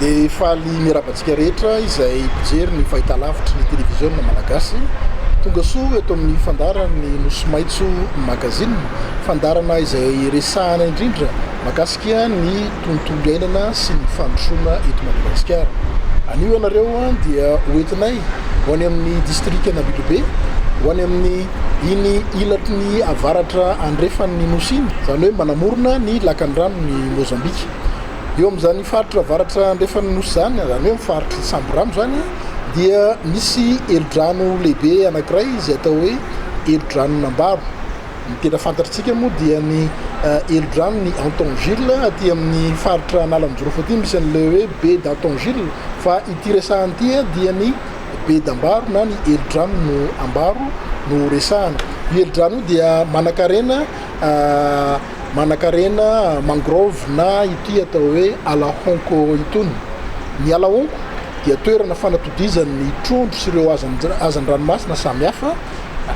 Dia faly miarahaba antsika rehetra izay mpijery ny fahitalavitry ny televiziona malagasy. Tonga soa eto amin'ny fandaharan'ny Nosy Maitso Magazine, fandaharana izay resahana indrindra mahakasika ny tontolo iainana sy ny fandrosoana eto Madagasikara. Anio ianareo dia ho entinay ho any amin'ny distrikan'Ambilobe, ho any amin'ny. Iny ilatry ny avaratra andrefan' ny nosy iny, izany hoe manamorona ny lakan-dranon' i Môzambika. Eo amin' izany faritra avaratra andrefan' ny nosy izany, izany hoe amin' ny faritr' i Samborano izany, dia misy helodrano lehibe anankiray izay atao hoe helodranon' Ambaro. Ny tena fantatritsika moa dia ny helodranon' i Antongile aty amin' ny faritra Analanjirofo aty, misy an' ilay hoe Baie d' Antongile, fa ity resahana ity dia ny Bedy ambaro na ny helidrano no ambaro no resahana. Io helidrano io dia manankarena manankarena mangrove na ity atao hoe ala honko itony. Ny ala honko dia toerana fanatodizan'ny trondro sy ireo hazan-dranomasina samihafa.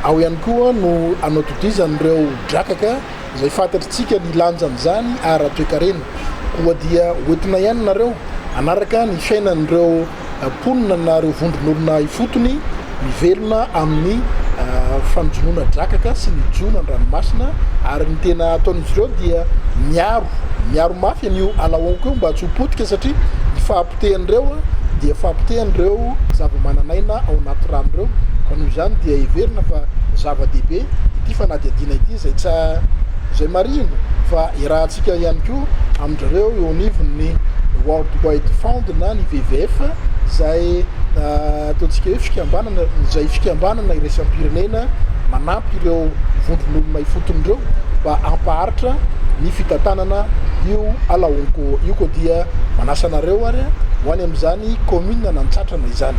Ao ihany koa no anatodizan'ireo drakaka izay fantatritsika ny lanjan'izany ara-toekarena. Koa dia hoentina ihany nareo hanaraka ny fiainan'ireo mponina na ireo vondron'olona ifotony mivelona amin'ny fanjonoana drakaka sy ny jono an-dranomasina ary ny tena ataon'izy ireo dia miaro miaro mafy an'io ala honko io mba tsy ho potika satria ny fahapotehany ireo dia fahapotehany ireo zava-manan'aina ao anaty rano ireo ka noho izany dia heverina fa zava-dehibe ity fanadihadiana ity izay tsy izay marihina fa iarahantsika ihany koa amin-dry zareo eo anivon'ny World Wide Fund Mpitandrontena ny VVF izay ataontsika hoe fikambanana izay fikambanana iraisam-pirenena manampy ireo vondron'olona ifotony ireo mba hampaharitra ny fitantanana io ala honko io koa dia manasa anareo ary ho any amin'izany kaominina an'Antsatrana izany.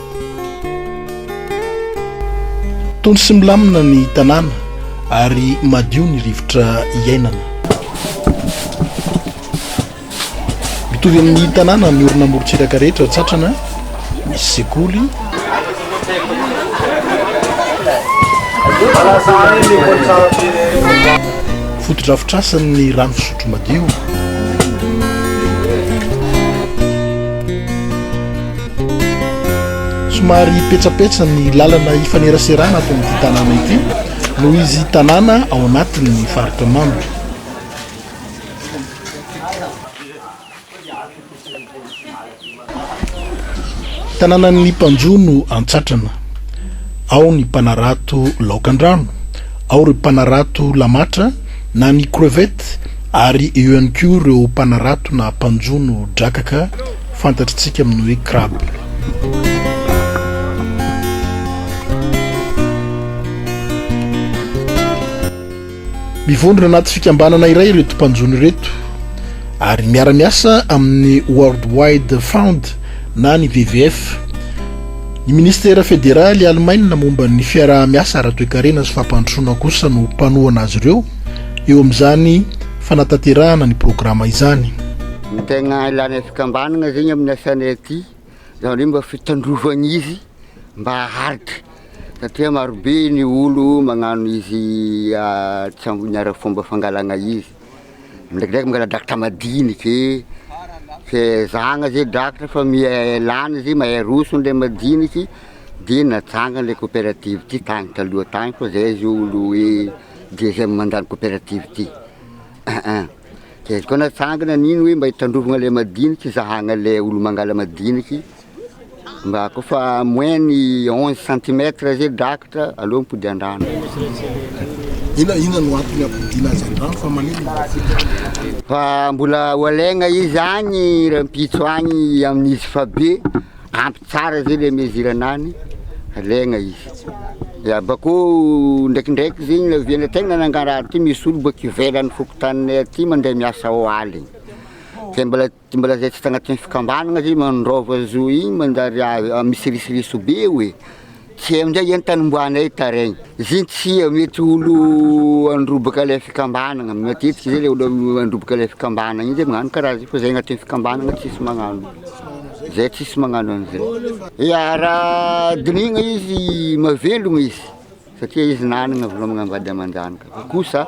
Tony sy milamina ny tanàna ary madio ny rivotra iainana. Mitovy amin'ny tanàna miorina amorontsiraka rehetra tsatrana, misy sekoly. Fotodrafitrasan'ny rano fisotro madio. Somary petsapetsa ny lalana ifaneraserana ato amin'ity tanàna ity noho izy tanàna ao anatin'ny faritra Mamy. Tanànan'ny mpanjono antsatrana, ao ny mpanarato laokan-drano, ao ireo mpanarato lamatra na ny crevettes ary eo ihany koa ireo mpanarato na mpanjono drakaka. Fantatr'tsika amin'ny hoe crabe. Mivondrona anaty fikambanana iray ireto mpanjono ireto ary miara-miasa amin'ny World Wide Fund na ny WWF. Ny Ministera Federaly Alemaina momba ny fiaraha-miasa ara-toekarena sy fampandrosoana kosa no mpanohana azy ireo eo amin'izany fanatanterahana ny programa izany. Ny tegna ilana fikambanana zegny amin'ny asanay aty zany hoe mba fitandrovagna izy mba haharitra satria maro be ny olo magnano izy tsy amin'ny ara fomba fangalagna izy, ndraikindraiky mangala drakitra madiniky e, ke zahagna ze drakitra fa miha lany izy mahay aroso le madiniky de natsangany le coopérative ty tany taloha tany fa zay zao olo hoe deuxième mandat ny coopérative ty. Aa, dia izay koa natsangana nino hoe mba hitandrovana ilay madinika, hizahana ilay olo-mangala madinika iny, mba koa fa moins ny onze centimètre izay drakitra, aleo mipody an-drano. Inona inona no antony hampodiana azy an-drano fa malemy ny madinika? Fa mbola ho alaigna izy agny rahampitso agny amin'izy fa be. Ampy tsara izay le mesure anany alaigna izy dia bakeo ndraikindraiky zegny le oviana tegna nangarahary ty misy olo boaka ivelany fokontaninay aty mandray miasa ao aligny zay mbola tsy mbola zay tsy tagnatin'ny fikambanagna zay mandraova zo igny manjary misy risoriso be oe Tsy amin'izay izany tanombohanay taraina. Izay tsia mety olo handrobaka ilay fikambanana, matetika izay ilay olo handrobaka ilay fikambanana iny izay magnano karaha zay fa izay agnatin'ny fikambanana tsisy magnano, izay tsisy magnano an'izay. Ia raha dinihina izy mahavelogna izy satria izy nanagna vola aman-jany kosa.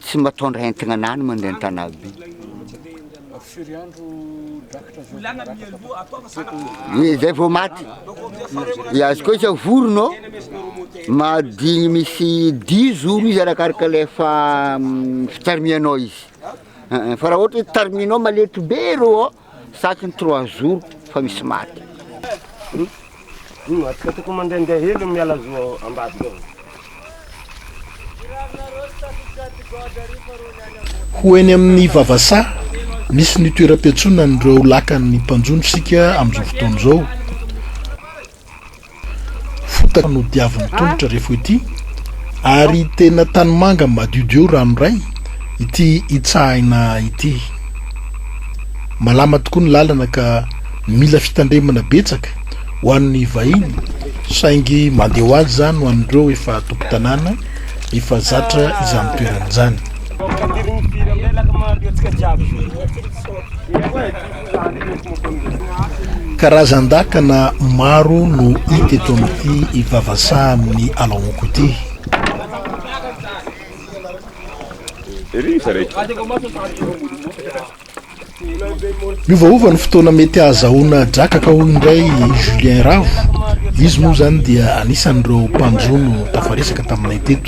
Tsy matondra entagna anah ny mandeha an-tanà be. Firy andro drakitra zao vao maratra? Ie zay vao maty. Ie azy koa izao vorona ô, mahadigny misy dimy jours izy arakaraka le fa fitarimianao izy. Fa raha ohatra hoe tariminao maletrobe rô ô. Saky ny trois jours fa misy maty. Atsika tokony mandehandeha hely miala zo ao ambadika ao. Ho eny amin'ny vavasaha misy ny toeram-piantsonan'ireo lakan'ny mpanjono isika amin'izao fotoana izao. Fotaka no diavin'ny tongotra re fo ity ary tena tanimanga madiodio ranoray ity itsahina ity. Malama tokoa ny lalana ka mila fitandremana betsaka ho an'ny vahiny saingy mandeha ho azy izany ho an'ireo efa tompon-tanàna efa zatra izany toerana izany. Karazan-dakana maro no hita eto amin'ity ivavasahan'ny Alaonko ity. Miovaova ny fotoana mety hahazahoana drakaka hoy indray i Julien Ravo. Izy moa izany dia anisan'ireo mpanjono tafaresaka taminay teto.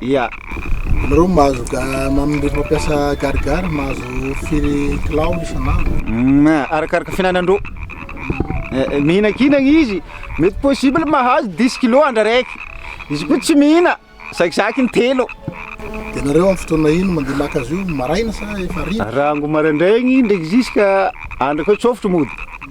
Ia. Ianareo mahazo ga, rehefa mampiasa garigary mahazo firy kilao isan'andro? Hum, arakaraka fihinanandro. Mihinankinagna izy, mety possible mahazo dix kilos andro araiky. Izy koa tsy mihina, zakizakiny intelo. Dia ianareo amin'ny fotoana ino mandeha maka azy io, maraina sa efa hariva? Rango maraindraigny ndraiky jusqu'à andro akeo tsôfotro mody.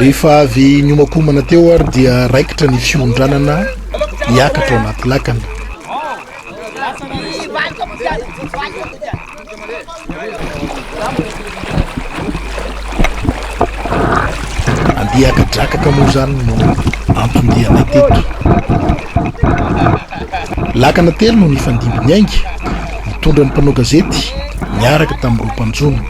Rehefa avy niomakomana teo ary dia raikitra ny fiondranana hiakatra ao anaty lakana. Andian-drakaka moa izany no anton-dianay teto. Lakana telo no nifandimbin'ny ainga, nitondra ny mpanao gazety niaraka tamin'ireo mpanjono.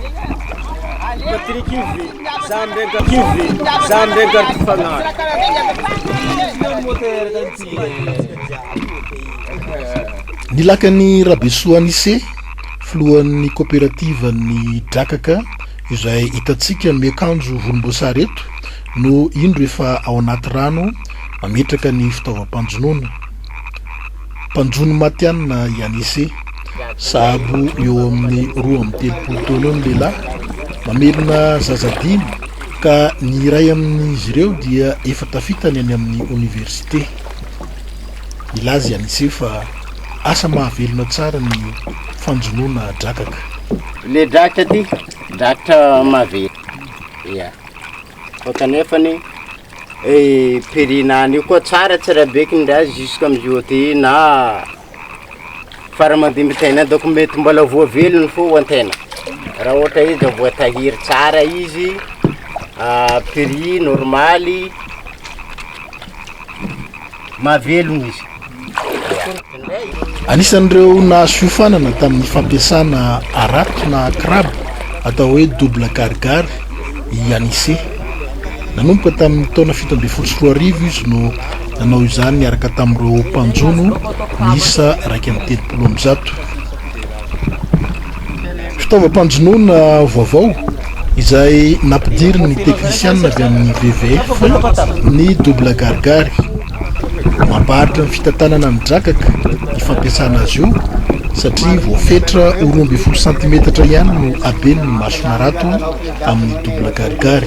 Ny lakan'i Rabesoa Anise, filohan'ny koperativan'ny Drakaka izay hitantsika miakanjo volomboasary eto no indro efa ao anaty rano mametraka ny fitaovam-panjonoana. Mpanjono matihanina i Anise. Sahabo eo amin'ny roa amby telopolo taona eo ny lehilahy, mamelona zaza dimy. Ka ny iray amin'izy ireo dia efa tafita ny any amin'ny oniversite. Milaza i Anicet fa asa mahavelona tsara ny fanjonoana drakaka. Ilay drakaka ity, drakaka maventy, ia. Fa kanefa ny Perina any io koa tsara, tsara be kindrazy jusqu'à mjoty na fara mandimbitain donc mety mbola voavelony foana tena raha ohatra izy mbola voatahiry tsara izy prix normaly mahavelogno izy Anisan'ireo nahazo fiofanana tamin'ny fampiasana harato na crab atao hoe double gargare i Anise. Nanomboka tamin'ny taona fito ambin'ny folo sy roa arivo izy no Nanao izany niaraka tamin'ireo mpanjono miisa iraika amby telopolo amby zato. Fitaovam-panjonoana vaovao izay nampidirin'ny teknisianina avy amin'ny WWF ny Double Gargary. Mampaharitra ny fitantanana ny drakaka ny fampiasana azy io satria voafetra ho roa ambin'ny folo santimetatra ihany no haben'ny mason'harato amin'ny Double Gargary.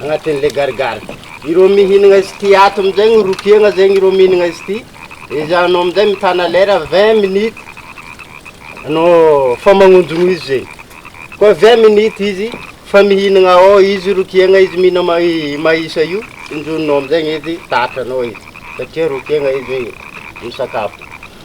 agnatin'ilay garigary. Ireo mihinagna izy ity ato amin'izay no ropiagna zegny ireo mihinagna izy ity, dia izy anao amin'izay mitana lera vingt minutes anao efa magnonjogno izy zegny, koa vingt minutes izy efa mihinagna ao, izy ropiagna izy mihina ma- i maïs io, tsonjoninao amin'izay izy, tatranao izy satria ropiagna izy misakafo.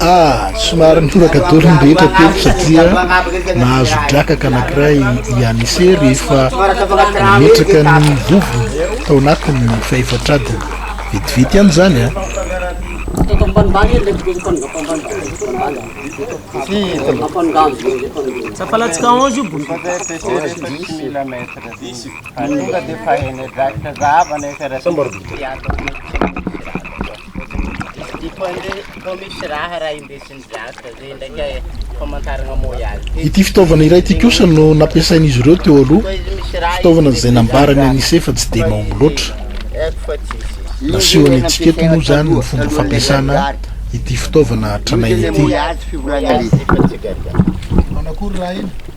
Ah, somary nitoraka daholo ny rehetra teto satria nahazo drakaka anankiray i Anise rehefa nametraka ny vovony tao anatin'ny fahefatra adiny. Vetivety ihany izany an! Ah. Ity fitaovana iray ity kosa no nampiasain'izy ireo teo aloha, fitaovana izay nambarany an'ise fa tsy dia mahomby loatra. Nasehony antsika eto moa izany ny fomba fampiasana ity fitaovana tranainy ity.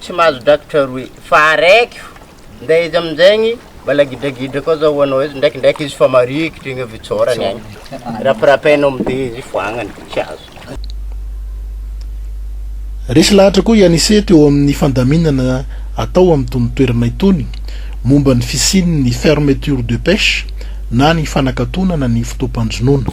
Tsy mahazo drakitra roe fa araiky fo nde izy aminjegny mbala gidragidra koa zao hoanao izy ndraikindraiky izy fa marikitry igny avy tsôrany agny rapirapainao mde izy foagnany tsy azo. Resy lahatra koa i Anise teo amin'ny fandaminana atao amin'itony toerana itony momba ny fisian'ny fermeture de pêche na ny fanakatonana ny fotoam-panjonoana.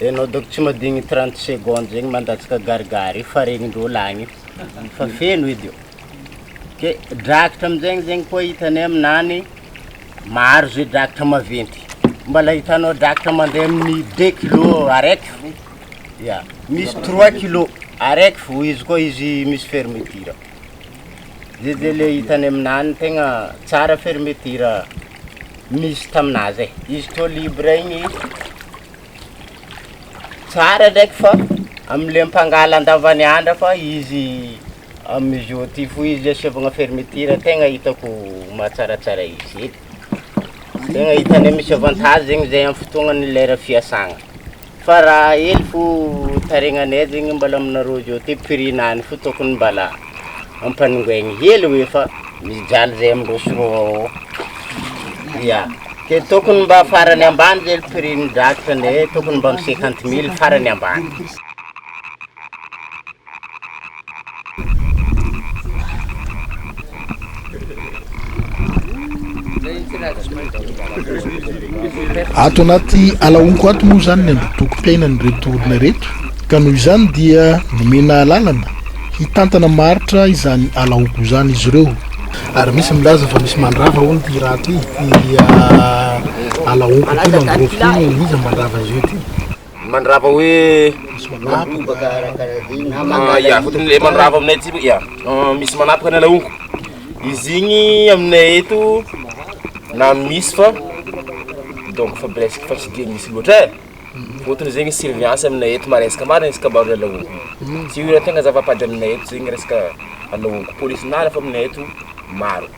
Enao donc tsy madigny trente secondes zegny mandatsaka garigary io fa regnin-drôla agny io fa feno edy ô! ke drakitra aminjegny zegny koa hitanay aminany maro zay drakitra maventy mbala hitanao drakitra mandeha amin'ny deux kilo araiky fo, ya misy trois kilo araiky fo izy koa izy misy fermeture zay zay le hitanay aminany tegna tsara fermeture misy taminazy e! izy tô libre igny. Tsara ndraiky fa amle mpangala andavany andra fa izy amizao ty fo izy asevagna fermeture tegna hitako mahatsaratsara izy e, tegna hitanay misy avantage zegny zay amin'ny fotoagnan'ny lera fiasagna, fa raha hely fo taregnanay zegny mbala aminareo zao ty prix nany fo tokony mbala. ampanongainy hely hoe fa mijaly zay amin'ireo sinoa ao, ya, dia tokony mba farany ambany zay ny prix ny drakitra ndray e, tokony mba amin'ny cinquante mille farany ambany. Ato anaty ala honko ato moa izany ny andotokom-piainan'ireto olona ireto ka noho izany dia nomena alalana hitantana maharitra izany ala honko izany izy ireo. Ary misy milaza fa misy mandrava hono ity raha ity, ity ah, ala honko ity mangrove ity, iza mandrava azy io ity? Mandrava hoe manapaka ah ya fotony le mandrava aminay aty ya misy manapaka ny alaongo izy igny aminay eto na misy fa donc fa presque fa tsy de misy loatra e fotony zegny surveillance aminay eto maresaka marigny resaka baroa alaongo io tegna zava-padry aminay eto zegny resaka alaongo polisy miaraka fa aminay eto maro.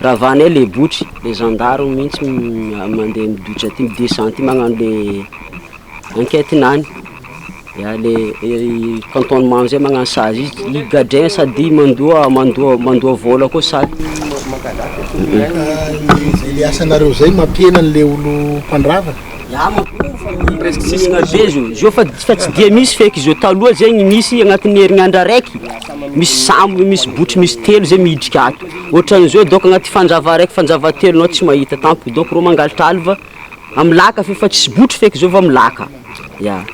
Ravanay le botry, le zandary mihintsy mandeha miditra aty mi-descend aty magnano le enquête-ny any, ya le cantonnement zay magnano sazy izy, i gadrin sady mandoa mandoa mandoa vola koa sady Zay le asanareo zay mampihena anle olo mpandrava? Ya mampihenana be zao, zao fa fa tsy dia misy feky zao, taloha zegny nisy agnatin'ny herinandro araiky misy sambo, misy botry misy telo zay miditra ato. Otran'izao donc agnaty fanjava araiky fanjava telo anao tsy mahita tampoka donc reo mangalatra alva am laka fe fa tsisy botry feky zao fa am laka ya.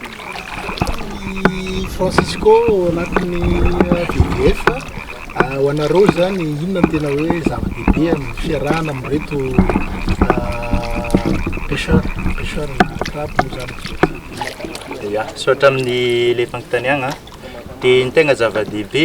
Francisco ao anatin'ny VDF, ho anareo zany inona no tena hoe zava-dehibe amin'ny fiarahana amin'ireto pecheurs, pecheurs na crabe moa zany izy io? Ya, misaotra amin'ny le fanontaniagna, de ny tegna zava-dehibe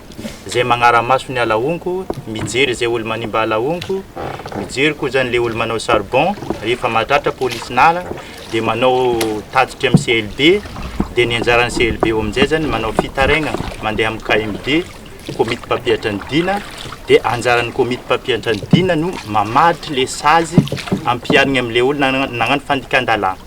Zay magnara-maso ny alahonko, mijery zay olo manimba alahonko, mijery ko zany le olo manao charbon, rehefa mahatratra police nala de manao tatitry am CLB, de ny anjaran'ny CLB eo amin'izay zany manao fitarainana mandeha am KMD, komity mpampiatra ny dina, de anjaran'ny komity mpampiantra ny dina no mamaritra le sazy ampiharigny am le olo nagnano fandikan-dalàna.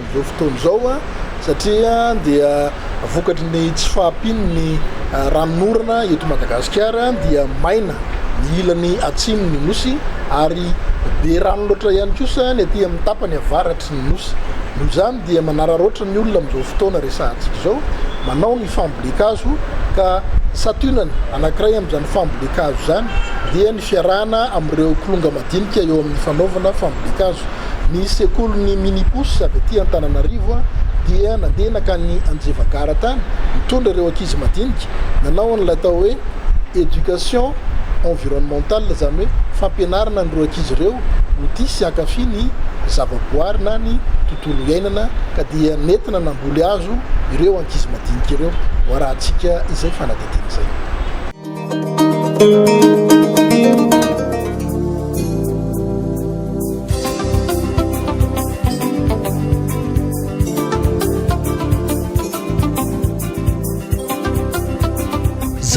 Amin'izao fotoana izao satria dia vokatry ny tsy fahampian'ny ranon'orana eto Madagasikara dia maina ny ilany atsimon'ny Nosy ary be rano loatra ihany kosa ny aty amin'ny tapany avaratry ny Nosy. Noho izany dia manararaotra ny olona amin'izao fotoana resahantsika izao manao ny fambolen-kazo ka santionany anankiray amin'izany fambolen-kazo izany dia ny. Fiarahana amin'ireo kilonga madinika eo amin'ny fanaovana fambolen-kazo. Ny sekolin'ny Minipus avy aty Antananarivo dia nandeha nankany Anjevagara tany nitondra ireo ankizy madinika nanao an'ilay atao hoe éducation environnementale izany hoe fampianarana an'ireo ankizy ireo ho tia sy hankafy ny zavaboary na ny tontolo iainana ka dia nentina namboly hazo ireo ankizy madinika ireo. Hoarahantsika izay fanadihadiana izay.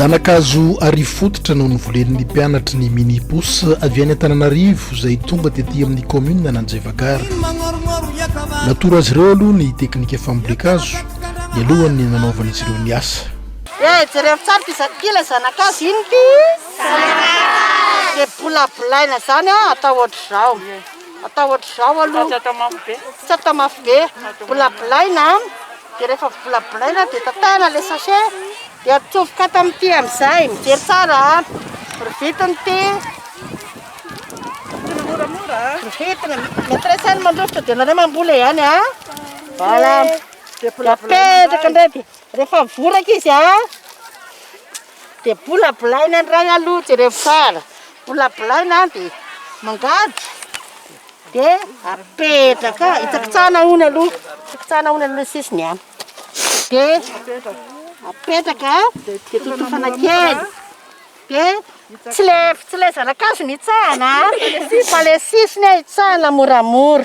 Zanakazo Arivo Fototra no novolen'ny mpianatry ny Minipos avy any Antananarivo izay tonga tety amin'ny kaominina Ananjevagara. Natoro azy ireo aloha ny teknika fambolen-kazo mialohan'ny nanaovan'izy ireo ny asa. Dia jereo tsara ity zanak'ity ilay zanak'azy, inona ity? Zanak'azy! Dia bolabolaina izany an, atao ohatr'izao, atao ohatr'izao aloha, tsy atao mafy be, tsy atao mafy be, bolabolaina an, dia rehefa bolabolaina dia tatahina ilay sachet, dia atsofoka ato amin'ity amin'izay, mijery tsara an, revitiny ity, revitiny moramora an, revitiny, maîtresse any mandrovitra dia ianareo mamboly ihany an, voilà, dia apetraka indray dia. Rehefa mivoraka izy dia bolabolaina ny ray aloha, jereo tsara, bolabolaina dia mangady dia apetraka, hitsakitsahana hono aloha, hitsakitsahana hono aloha ny sisiny an, dia apetraka dia totofana kely, dia tsy ilay tsy ilay zana-kazo no hitsahana an, fa ilay sisiny an hitsahana moramora,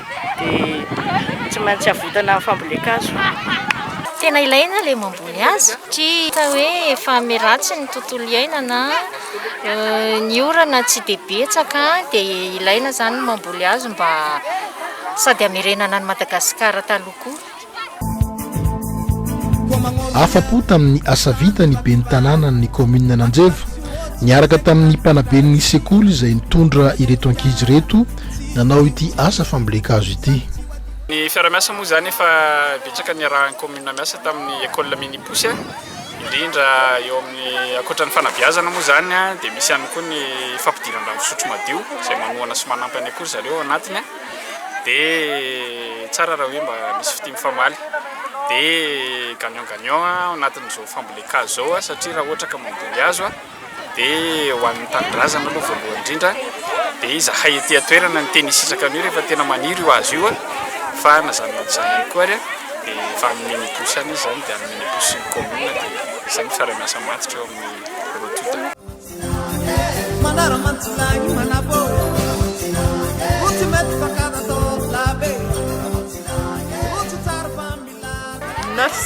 dia tsy maintsy avotana amin'ny fambolen-kazo. Tena ilaina ilay mamboly hazo satria hita hoe efa miratsy ny tontolo iainana, ny orana tsy dia betsaka dia ilaina izany ny mamboly hazo mba sady hamerenana an'i Madagasikara taloha koa. Afa-po tamin'ny asa vita ny ben'ny tanànan'ny kaominina Ananjeva, niaraka tamin'ny mpanaben'ny sekoly izay nitondra ireto ankizy ireto nanao ity asa fambolen-kazo ity. Ny fiarahamiasa moa izany efa betsaka niarahan'ny kaominina miasa tamin'ny Ecole Mini Pouce, indrindra eo amin'ny ankoatra ny fanabeazana moa izany dia misy ihany koa ny fampidiran-drano fisotro madio izay manohana sy manampy an'ny ankoho ry zareo ao anatiny. dia tsara raha hoe mba misy fitia mifamaly dia gagnant gagnant ao anatin'izao fambolen-kazo izao aho satria raha ohatra ka mamboly hazo aho dia ho an'ny tanindrazana aloha voalohany indrindra dia izahay ety an-toerana no tena hisitraka an'io rehefa tena maniry io hazo io fa na izany na izany ihany koa ary dia efa any mini pousse any izy izany dia any mini pousse ny commune dia izay no fiaraha-miasa matotra eo amin'ny roa tonta. Neuf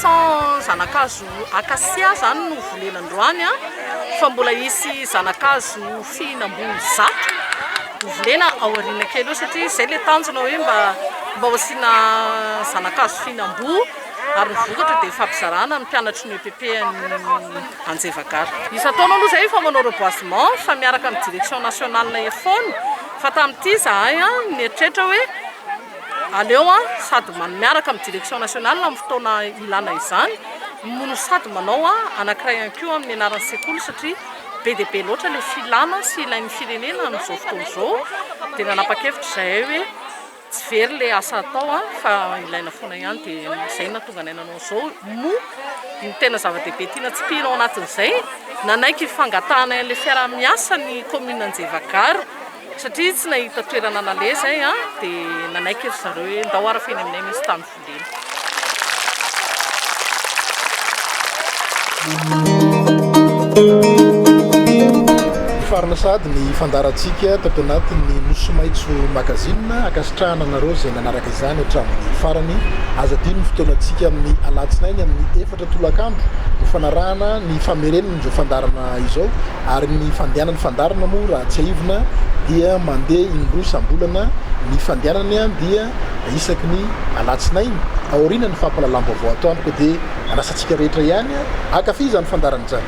cents zanakazo acacia zany no volena androany an! fa mbola hisy zanakazo fihinam-boa zato ho volena ao aoriana kely eo satria izay ilay tanjona hoe mba mba ho asiana zanakazo fihinam-boa ary ny vokatra dia fampizarana ny mpianatry ny EPP an'ny Anjevagara. Isan-taona aloha izay efa manao reboisement fa miaraka amin'ny direction nationale ery foana fa tamin'ity izahay nieritreritra hoe aleo sady miaraka amin'ny direction nationale amin'ny fotoana ilana izany no sady manao anankiray ihany koa amin'ny anaran'ny sekoly satria be dia be loatra ilay filana sy ilain'ny firenena amin'izao fotoana izao dia nanapa-kevitra izahay hoe Tsy very le asa atao an, fa ilaina foana ihany de zay no nahatonga anay nanao an'izao moa ny tena zava-dehibe tiana tsipihina ao anatin'izay nanaiky ny fangatahanay an'ilay fiaraha-miasa ny commune Anjevagaro satria tsy nahita toerana nalahy zay an de nanaiky ry zareo hoe ndao arafiny aminay misy tany Hifarana sahady ny fandaharantsika tato anatin'ny Nosy Maitso Magazine. Ankasitrahana anareo izay nanaraka izany hatramin'ny farany. Aza adino ny fotoanantsika amin'ny alatsinainy amin'ny efatra tolakandro ho fanarahana ny famerenana izao fandaharana izao ary ny fandehanan'ny fandaharana moa raha tsiahivina dia mandeha indroa isam-bolana ny fandehanany dia isaky ny alatsinainy aorianan'ny fampahalalam-baovao atoandro dia anasa antsika rehetra ihany hankafy izany fandaharana izany.